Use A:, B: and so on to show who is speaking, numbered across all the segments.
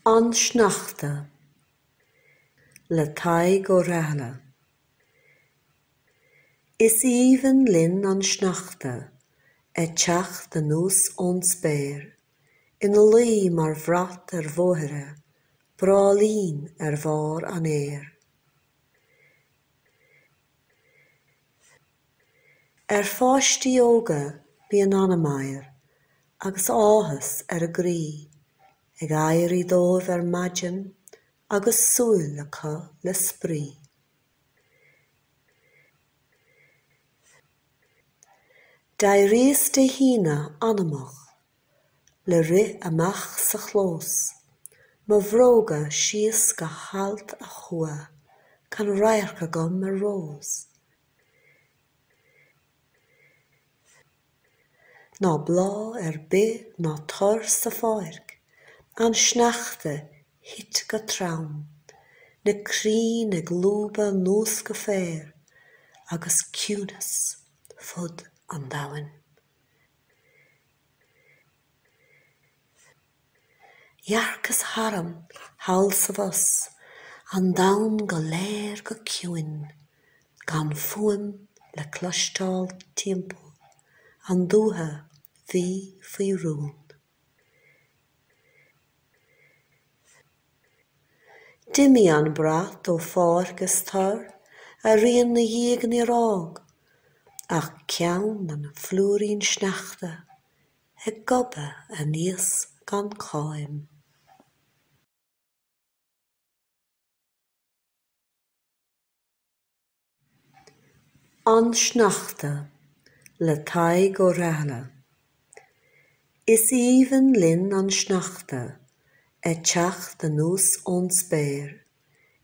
A: An Sneachta, le Tadhg Ó Rathaille. Is aoibhinn linn an sneachta a' teacht anuas ón spéir, Ina luí mar bhrat ar bhóithre, bráillín ar bharr an fhéir. Ar pháistí óga bíonn ana-mheidhir agus áthas ar a gcroí ag éirí dóibh ar maidin agus súil acu le spraoi. D'éiríos Dé hAoine ana-mhoch le rith amach sa chlós, mo bhróga síos go halt a chuaigh, gan radharc agam ar rós. Ná bláth ar bith ná tor sa pháirc, An sneachta thit go trom, Na crainn ag lúbadh 'nuas go féar, Agus ciúnas fud an domhain. Dhearcas tharm thall 's abhus, an domhan go léir go ciúin, gan fuaim le cloisteáil timpeall, an dúiche bhí faoi rún. D'imigh an brat ó pháirc is tor, a rian 'na dhiaidh níor fhág ach ceann an phlúirín sneachta, ag gobadh aníos gan cháim. An Sneachta, le Tadhg Ó Rathaille. Is aoibhinn linn an sneachta ag teacht anuas ón spéir,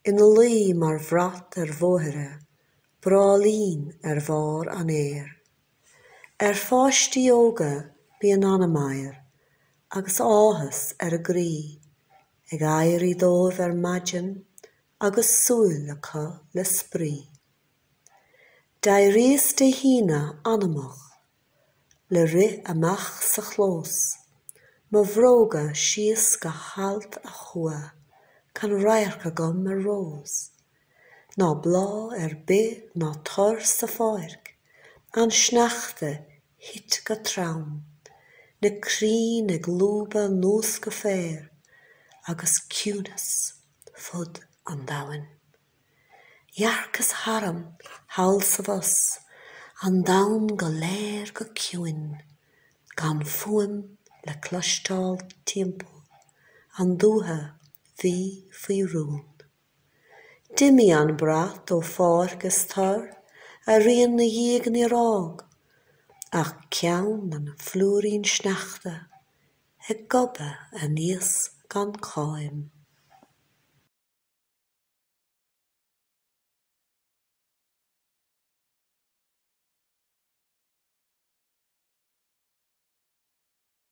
A: ina luí mar bhrat ar bhóithre, bráillín ar bharr an fhéir. Ar pháistí óga bíonn ana-mheidhir agus áthas ar a gcroí ag éirí dóibh ar maidin agus súil acu le spraoi. D'éiríos Dé hAoine ana-mhoch le rith amach sa chlós, mo bhróga síos go halt a chuaigh, gan radharc agam ar rós. ná bláth ar bith ná tor sa pháirc, an sneachta thit go trom, na crainn ag lúbadh anuas go féar, agus ciúnas fud an domhain. Dhearcas tharm thall 's abhus, an domhan go léir go ciúin, gan fuaim le cloisteáil timpeall, an dúiche bhí faoi rún. D'imigh an brat ó pháirc is tor a rian 'na dhiaidh níor fhág ach ceann an phlúirín sneachta ag gobadh aníos gan cháim.